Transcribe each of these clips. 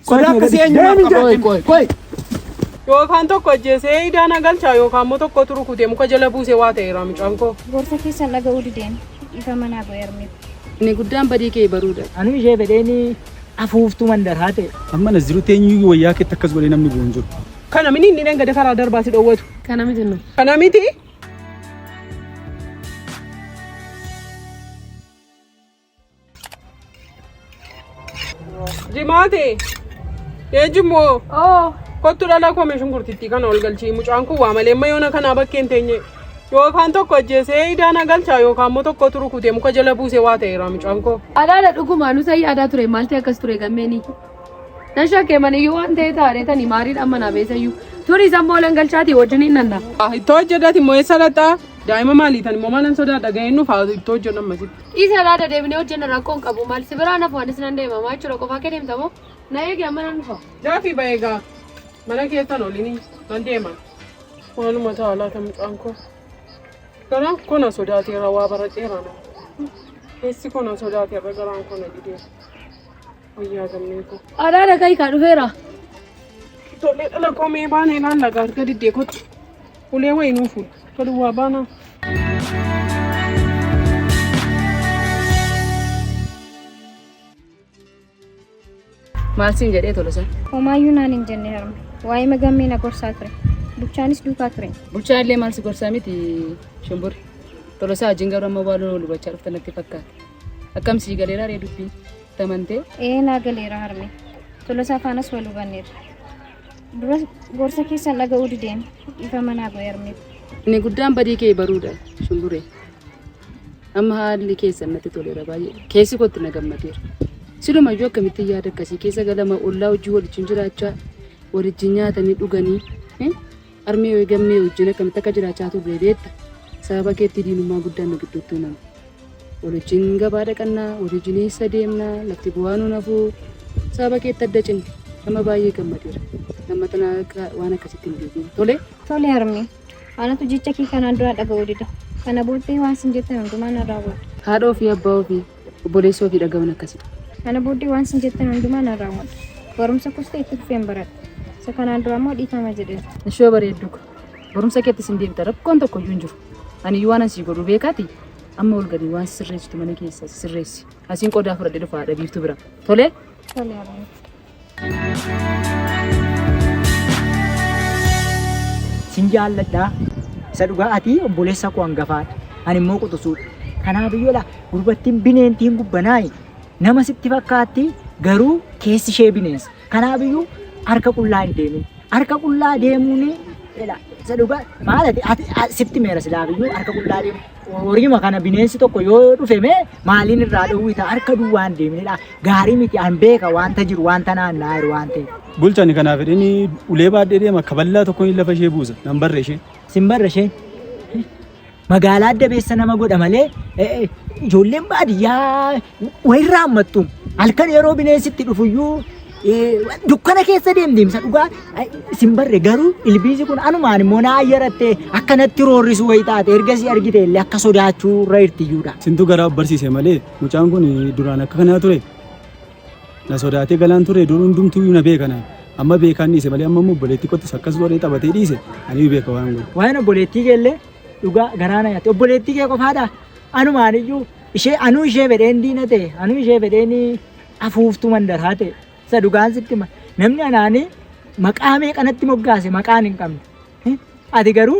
Sodaa akkasii eenyumaaf qaba? Qoy qoy qoy. Yookaan tokko ajjeesee idaa na galchaa yookaan immoo tokko turu kutee muka jala buusee waa ta'eera mucaan koo. Gorsa keessan dhaga'uu dideen ifa manaa bu'e armeef. Inni guddaan badii kee baruudha. Anuu ishee fedheeni afuuftuu mandarahaa ta'e. Amma na jiru teenyuu wayyaa keetti akkas godhee namni bu'u hin jiru. Kana mini inni dhangada karaa darbaa si dhoowwatu. Kana miti nu. Kana miti. Jimaate. Ee jimmoo. Oo. Kottu dhala koo meeshaan gurtittii kana ol galchii mucaan kun waa malee amma yoona kanaa bakkee hin teenye. Yookaan tokko ajjeesee idaan agalchaa yookaan immoo tokko turu kutee muka jala buusee waa ta'eera mucaan koo. Alaala dhugumaa nu sayyi aadaa ture maalti akkas ture gammeeni. Nan shakkee maniyyuu waan ta'e taaree tani maariidhaan manaa beesayyuu. Turis ammoo olan galchaati wajjin hin nanna. Ittoo hojjedhaati immoo eessa laxxaa? Daa'ima maalii tan immoo maalan sodaadha ga'een nuuf haa ittoo hojjedhan masitti. Dhiisi alaa dadeebinee hojjenna rakkoo hin qabu maal si biraan hafu anis nan deema maa jechuudha qofaa kee deemta moo na eegi amma nan dhufa. Daafii ba'ee gaa mana keessan olini nan deema. Maaluma ta'a laata mucaan koo garaan koo na sodaateera waa baradheera na keessi koo na sodaateera garaan koo na didee wayyaa gammee koo. Alaa dhaqayi kaa dhufeera. Ijoollee dhala koo mee baanee laalla gaarga diddee kottu. Ulee wayi nuu fuudhu. Tolu waa baanaa. Maal siin jedhee tolosa? Homaayyuu naan hin jenne harme. Waa'ee magammee na gorsaa ture. Bulchaanis duukaa ture. Bulchaa illee maal si gorsaa miti shumburri. Tolosaa wajjin garuu amma waan wal hubachaa dhufte natti fakkaata. Akkam sii galeeraa ree dubbii tamantee? Ee naa galeera harme. Tolosaa faanas wal hubanneerra. Duras gorsa keessan dhaga'uu dideen dhiifama naa godhi harmeef. Inni guddaan badii kee baruudha shumburee. Amma haalli keessan natti toleera baay'ee. Keessi kootti na gammadeera. Silumayyuu akkamitti yaada akkasii keessa galama ollaa hojii waliin jiraachaa waliin nyaatanii dhuganii. Harmee Way Gammee wajjin akkamitti akka jiraachaa turre beekta? Sababa keetti diinummaa guddaan nu gidduutti uumame. Wal wajjin gabaa dhaqanna, wal wajjin eessa deemna, lafti bu'aa nuun hafu. Sababa keetti adda cinne. Amma baay'ee gammadeera. Amma tana akka waan akkasitti hin deebiin. Tole? Tole harmee. Anatu jecha kee kanaan dura dhaga'uu dida. Kana booddee waan sin jettan hundumaa nan raawwadha. Haadha ofii, abbaa ofii, Obboleessa ofii dhaga'uun akkasidha. Kana booddee waan isin jettan hundumaa nan raawwadha. Barumsa koos ta'e itti fufeen baradha. Isa kanaan duraa immoo dhiifama jedheera. Ishoo bareedduu ko, barumsa keettis in deebita, rakkoon tokko iyyuu hin jiru. Ani iyyuu waanan sii godhu beekaatii, amma ol gadi waan sisirreessitu mana keessa sisirreessi. Asiin qodaa fudhadhee dhufa haadha Biiftuu bira. Tolee? Tole abbee. Sin jaalladha. Isa dhugaa ati obboleessa koo hangafaadha. Ani immoo quxusuudha. Kanaaf iyyuu laa gurbattiin bineentiin gubbanaayi. Nama sitti fakkaatti garuu keessi ishee bineensa. Kanaaf iyyuu harka qullaa hin deemin. Harka qullaa deemuun isa dhugaa maal ati sitti meera silaaf iyyuu harka qullaa deemu. Horiima kana bineensi tokko yoo dhufe mee maaliin irraa dhowwita harka duwwaan deemnedha. Gaarii miti an beeka wanta jiru wanta naanna'aa jiru waan ta'eef. Bulchani kanaaf jedhini ulee baadhee deema akka ballaa tokkoon lafa ishee buusa nan barre ishee. Sin barre ishee. Magaalaa adda beessa nama godha malee ijoolleen baadiyyaa wayirra hammattu halkan yeroo bineensi itti dhufuyyuu dukkana keessa deemdeemsa dhugaa isin barre garuu ilbiisi kun anumaan immoo naa ayyaratte akkanatti roorrisu wayi taate ergasii argite illee akka sodaachuu irra irtiyyuudha. Sintu garaa of barsiise malee mucaan kun duraan akka kanaa ture na sodaatee galaan ture dur hundumtuu na beekana amma beekaan dhiise malee amma immoo obboleettii kottis akkas godhee taphatee dhiise ani beeka waan godhu. Waa'een obboleettii kee illee dhugaa garaa na yaate obboleettii kee qofaadha anumaan iyyuu Ishee anuu ishee fedheen diina ta'e anuu ishee fedheen afuuftuu mandaraa ta'e isa dhugaan sitti ma namni anaanii maqaa meeqanatti moggaase maqaan hin qabne. Eh, Ati garuu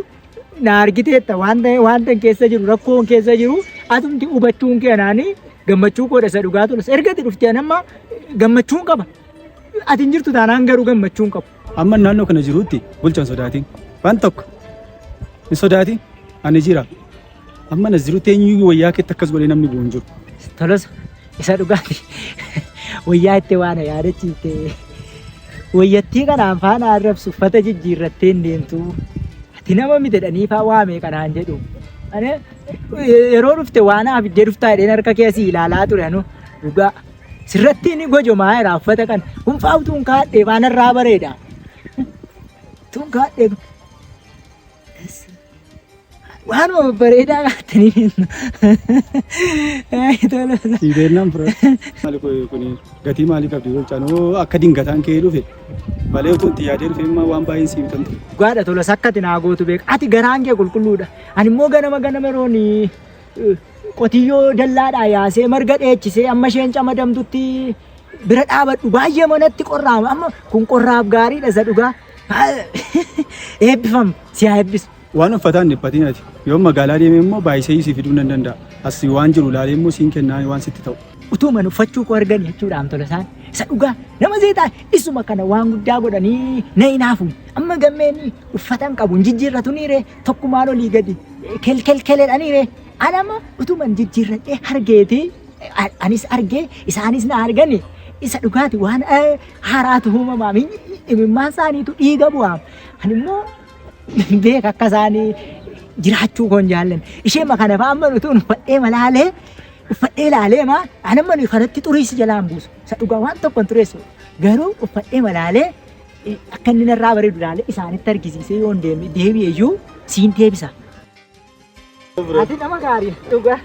na argiteetta wanta wanta keessa jiru rakkoon keessa jiru atumti hubachuun kee anaanii gammachuu koodha isa dhugaa tolas erga itti dhuftee anamma gammachuun qaba. Ati hin jirtu taanaan garuu gammachuun qabu. Amma naannoo kana jirutti bulchan sodaatiin. Waan tokko hin sodaatiin ani jira. Amma na jirutti eenyuyyuu wayyaa keetti akkas godhee namni bu'u hin jiru. Tolosa isa dhugaati. Wayyaa itti waan yaadachiifte. Wayyattii kanaan faana arrabsu uffata jijjiirrattee hin deemtu. Ati nama miti jedhanii faa waamee kanaan jedhu. Ani yeroo dhufte waan haaf iddee dhuftaa jedheen harka kee asii ilaalaa ture anu dhugaa. Sirratti ni gojomaa jira uffata kana. Kun faa utuun kaadhee faana irraa bareeda. Utuun kaadhee. Waan bareedaa qabatanii kennu. Sii beeknaan fira. Maali kun gatii maalii qabdi jecha noo akka dingataan kee dhufe malee utuu itti yaadee dhufe immoo waan baay'een siin kan ture. Dhugaadha tola sakkati naa gootu beeka. Ati garaan kee qulqulluudha. Ani immoo ganama ganama rooni qotiyyoo dallaadhaa yaasee marga dheechisee amma isheen camadamtutti bira dhaabadhu baay'ee manatti qorraama. Amma kun qorraaf gaariidha isa dhugaa. Eebbifam si haa eebbisu. Waan uffataa hin dhiphatiin ati. Yoo magaalaa deeme immoo baay'isee si fiduu nan danda'a. As waan jiru ilaalee immoo siin kennaa waan sitti ta'u. Utuuman uffachuu koo argan jechuudhaan tola isaan. Isa dhugaa nama seetaa isuma kana waan guddaa godhanii na hin haafu. Amma gammeen uffatan qabu hin jijjiirratu ni ree tokkumaan olii gadi kelkelkeledha ni ree. Anama utuuman jijjiirradhee hargeeti anis argee isaanis na argani isa dhugaati waan haaraatu uumamaaf imimmaan isaaniitu dhiiga bu'aaf. Ani immoo beeka akka isaanii jiraachuu koon jaallan. Ishee ma kana fa'aa manu tuun uffadhee malaalee uffadhee laalee maa ani manu kanatti xuriisi jalaan buusu. Isa dhugaa waan tokko hin xureessu. Garuu uffadhee malaalee akka inni narraa bareedu laalee isaanitti argisiisee yoo hin deebi'e iyyuu siin deebisa. Ati nama gaarii dhugaa.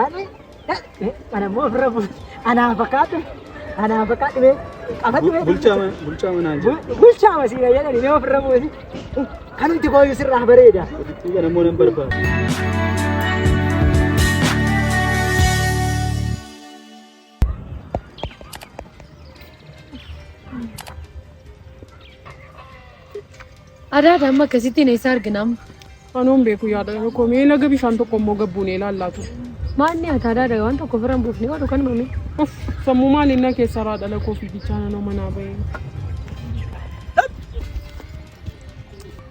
Ani kana immoo ofirra bu'u. Anaan fakkaatu. Anaan fakkaatu mee qabadhu mee. Bulchaa mana- bulchaa manaa jira. Bu- Bulchaa masiina jedhani mee ofirra bu'u. Kanumti kooyyuu sirraa bareeda. Ofittuu kana immoo nan barbaada. Adaada amma akkasittiin eessa arginam? Kanoon beeku yaada tokko mee laga bishaan tokko immoo gabbuunee ilaallaatu. Maalni ati adaada waan tokko ofirra hin buufne oolu kan mamee. Uff sammuu maaliin na keessa irraa dhala koo fiigichaa nanoo manaa bahee.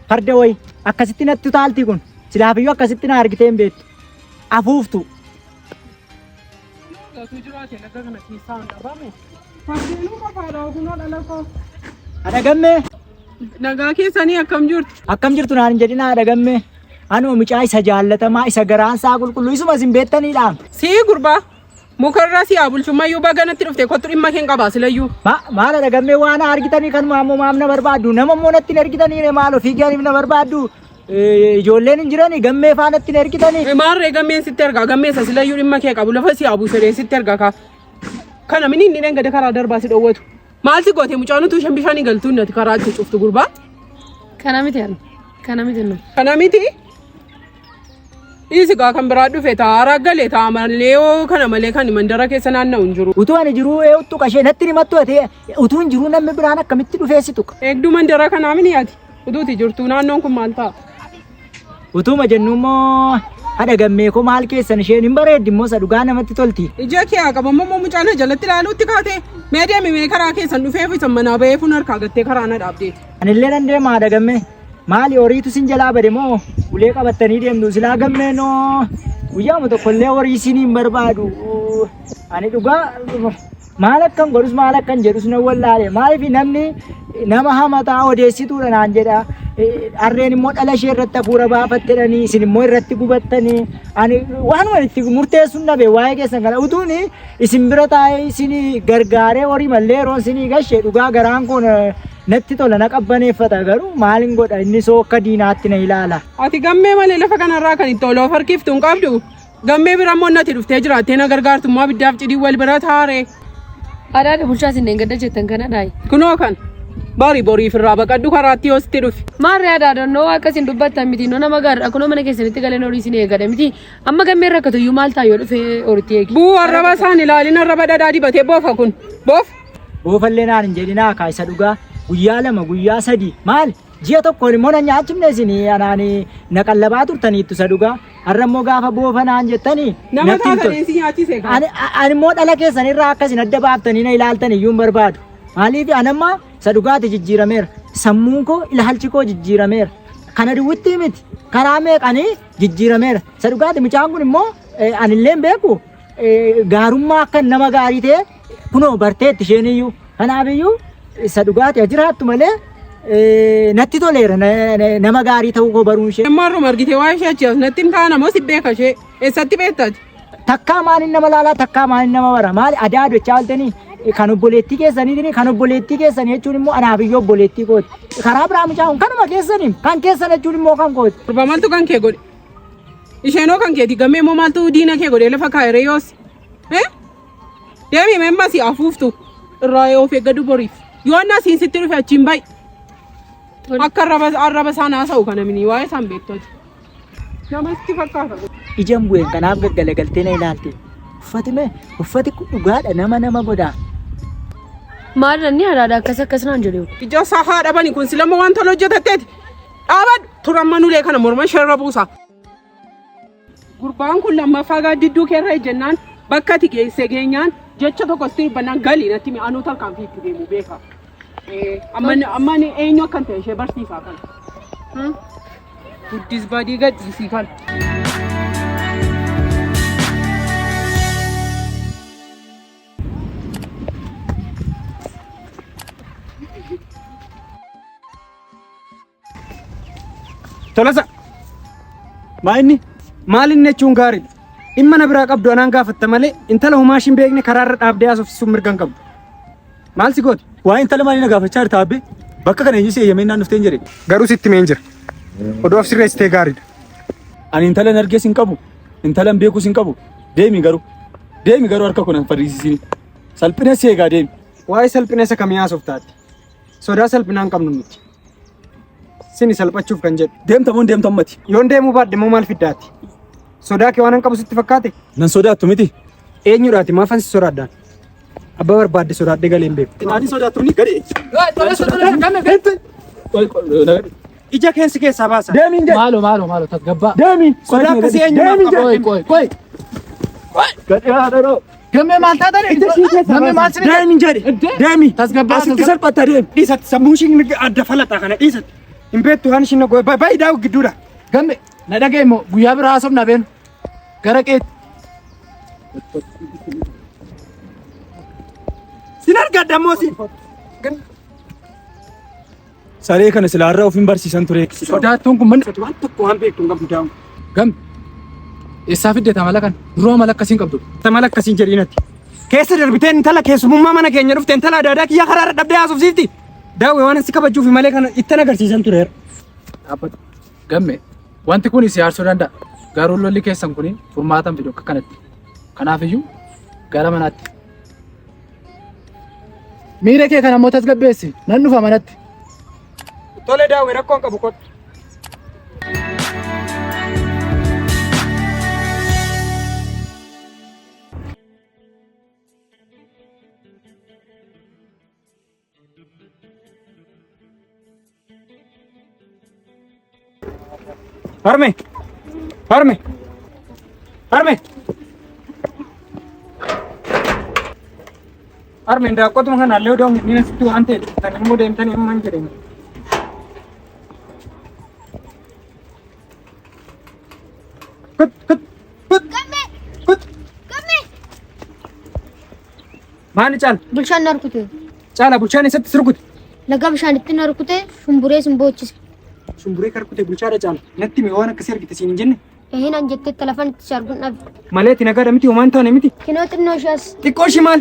Farda wayi akkasitti natti utaaltii kun silaafiyyuu akkasitti na argitee hin beektu. Afuuftu. Gatuu jiraate laga kana keessaa hin dhabamu. Fardeenuu qofaadha ogunoo dhala koo. Haadha gammee. Nagaa keessanii akkam jirtu? Akkam jirtu naan hin jedhin haadha gammee. Anoo mucaa isa jaallatamaa isa garaan isaa qulqulluu isuma isin beektaniidha. Sii gurbaa mukarraa si haa bulchummayyuu baga natti dhufte kottu dhimma keen qabaa silayyuu. Ma- Maal haadha gammee waan argitanii kanuma ammoo maaf na barbaaddu? Nama immoo natti hin ergitaniire maal ofii gaariif na barbaaddu? Ijoolleen hin jirani gammee faanatti hin ergitani. Maarree gammeen sitti ergaa gammeessa silayyuu dhimma kee qabu lafa si abu sedhee sitti ergaa kaa. Kana mini inni dhengade karaa darbaa si dhowwatu. Maal si goote mucaan utuu shan bishaanii galtuun nati karaa itti cuftu gurbaa. Kana miti ani. Kana miti nu. Kana miti. Dhiisi gaa kan biraa dhufe ta'a raggalee ta'a malee oo kana malee kan mandara keessa naanna'u hin jiru. Utuu ani jiruu eewwattu qashee natti himattu ati utuu hin jiruu namni biraan akkamitti dhufeessitu. Eegduu mandara kanaa mini ati. Utuuti jirtuu naannoon kun maal fa'a? Utuuma jennu immoo haadha gammee koo maal keessan isheen hin bareeddi immoo isa dhugaa namatti tolti. Ija kee haa qabamu immoo mucaan na jalatti ilaaluutti kaatee mee deemi mee karaa keessan dhufee fi san manaa bahee fuun harkaa gattee karaa na dhaabdeeti. Anillee nan deema haadha gammee. Maali horiitu sin jalaa bade moo ulee qabattanii deemtu silaa gammee noo guyyaama tokkollee horii siin hin barbaadu. Ani dhugaa Maal akkan godhus maal akkan jedhus nan wallaale. Maaliif namni nama hamataa odeessituudha naan jedha. Harreen immoo dhala ishee irratti hafuura baafattedhanii isin immoo irratti gubattanii ani waanuma itti murteessuun dhabe waa'ee keessan kana utuun isin bira taa'ee isin gargaaree horii mallee yeroon isin gashe dhugaa garaan koo natti tola na qabbaneeffata garuu maalin godha inni soo akka diinaatti na ilaala. Ati gammee malee lafa kanarraa kan itti ol of harkiftu hin qabdu. Gammee bira immoo nati dhuftee jiraattee na gargaartu immoo abiddaaf cidii wal bira taaree. Adaadha bulchaa isin dheengadda jettan kana dhaayi. Kunoo kan bari boriif irraa baqadhu karaatti yoo sitti dhufe. Maarree adaadonnoo akka isin dubbattan miti noo nama gaariidha kunoo mana keessanitti galeen horii isin eegadha miti amma gammee rakkatu iyyuu maal ta'a yoo dhufe horitti eegi. Buu arraba isaan ilaalin arraba dhadhaa dibatee boofa kun boof. Boofallee naan hin jedhinaa kaa isa dhugaa guyyaa lama guyyaa sadii maal Ji'a tokkoon immoo na nyaachifne isin anaan na qallabaa turtaniittu isa dhugaa. Har'a immoo gaafa boofa naan jettani Nama natti hin taatan tolu. eessi nyaachise kaa. Ani ani immoo dhala keessan irraa akka isin adda baaftanii na ilaaltan iyyuu hin barbaadu. Maaliif ani amma isa dhugaati jijjiirameera. Sammuun koo ilaalchi koo jijjiirameera. Kana duwwittii miti. Karaa meeqanii jijjiirameera. Isa dhugaati mucaan kun immoo eh, anillee hin beeku. eh, Gaarummaa akka nama gaarii ta'e Kunoo barteetti isheen iyyuu. Kanaaf iyyuu isa dhugaati haa jiraattu malee eh, natti toleera na- na- nama gaarii ta'uu koo baruun ishee. Amma har'uma argite waa'ee ishee achi as natti hin taana moo si beeka ishee eessatti beektati? Takkaa maaliin nama laalaa takkaa maaliin nama bara maali adaa adochaa oltanii kan obboleettii keessaniitiin kan obboleettii keessanii jechuun immoo anaaf iyyuu obboleettii kooti. Karaa biraa mucaan kanuma keessaniin kan keessan jechuun immoo kan kooti. Gurba maaltu kan kee godhe? Isheenoo kan keeti gammee moo maaltu diina kee godhe lafa kaayiree yoos? Eh? Deemi memma si afuuftu irraa of eeggadu boriif. Yoo inni asiin sitti dhufe achiin bayi. Akka arraba isaan haasa'u kana mini waa'ee isaan beektoti. Nama sitti fakkaata. Ijaan bu'een kanaaf gaggalagaltee na ilaalte. Uffati mee uffati kun dhugaadha nama nama godhaa. Maal inni haraadha akkas akkas naan jedhu. Ija isaa haa dhabani kun silama waan toloo hojjetatteeti. Dhaabadhu turan manulee kana morma ishee irra buusa. Gurbaan kun lammaffaa gaaddidduu keerra ejjennaan bakka ati geesse geenyaan jecha tokko sitti dubbannaan gali natti mi anuu tarkaanfii itti deemu beeka. Amma amma ani eenyu akkan ta'e ishee barsiisaa kana. Guddis badii gadhiisii kana. Tolasa! Maa inni? Maal inni jechuun gaariidha. Dhimma na biraa qabdu anaan gaafatta malee intala homaa ishiin beekne karaarra dhaabdee haasofsiisuun mirga hin qabdu. Maal si goote? Waa intala maalii na gaafachaa jirta abbee? Bakka kana eenyu si eeyyamee naan dhuftee hin jedhe. Garuu sitti mee hin jira. Oduu of sirreessitee gaariidha. Ani intala hin argees hin qabu. Intala hin beekuus hin qabu. Deemi garuu. Deemi garuu harka koo na hin fadhiisisiin. Salphina si eegaa deemi. Waa'ee salphina isa kamii haasoftaatti? Sodaa salphinaan qabnu nuti. Sini salphachuuf kan jedhu. Deemta moo deemta ummati? Yoon deemuu baadhe moo maal fiddaati? Sodaa kee waan hin qabu sitti fakkaate? Nan sodaattu miti. Eenyudhaati maafan si sodaadhaan? Abbaa barbaadde sodaadhee galee hin beeku. Ani sodaattu ni gadi. Ija keensi keessaa baasa. Deemiin jedhe. Maalo maalo maalo tasgabbaa. Deemi. Sodaa akkasii eenyumaa Deemi qaba? jedhe. Qoy qoy qoy. Gadhee haadha dhoo. Gammee maal taatan? Ija ishii keessa Gammee maal baasi. sinidha? Daa'imni jedhe. Daa'imni. Tasgabbaa, Asitti tasgabbaa. salphata deemi. Dhiisatti sammuu ishiin adda falaxaa kana dhiisatti. Hin beektu waan ishiin nagoo baay'ee daawwi gidduudha. Gammee na dhaga'e immoo guyyaa biraa haasofna beenu. Gara qeetti. Sin argadha ammoo siin. Saree kana silaa irra ofiin barsiisan ture. Sodaattuun kun manni waan tokko waan beektu hin qabdu daa'ima. Gam. Eessaa fidde tamala kana? Duroo mala akkasiin qabdu. Tamala akkasiin jedhiin ati. Keessa darbitee intala keessumummaa mana keenya dhufte intala adda addaa kiyya karaa irra dhabdee haasofsiifti. Daawwe waan asi kabajuufi malee kana ittan agarsiisan ture. Dhaabbatu. Gamme. Wanti kun si aarsuu danda'a. Garuu lolli keessan kun furmaatan fidu akka kanatti. Kanaafiyyuu gara manaatti. Miira kee kana immoo tasgabbeessi. Nan dhufa manatti. Tole daawwi rakkoon qabu kottu. Harme! Harme! Harme! Harme daakotuma kana illee odoo hin asitti waan ta'e kan immoo deemtanii immoo hin jedhani. Kut kut kut kut Maali caala? Bulchaan na rukute. Caala bulchaan eessatti si rukute? Laga bishaanitti na rukute shumburee sin boochise. Shumburee ka rukute bulchaadha caala. Natti mee waan akkasii argite siin hin jenne? Ehin an jettee telefon itti si arguun dhabe. Malee ti nagaadha miti homaan taane miti. Kinoo xinnoo ishees. Xiqqoo ishii maal?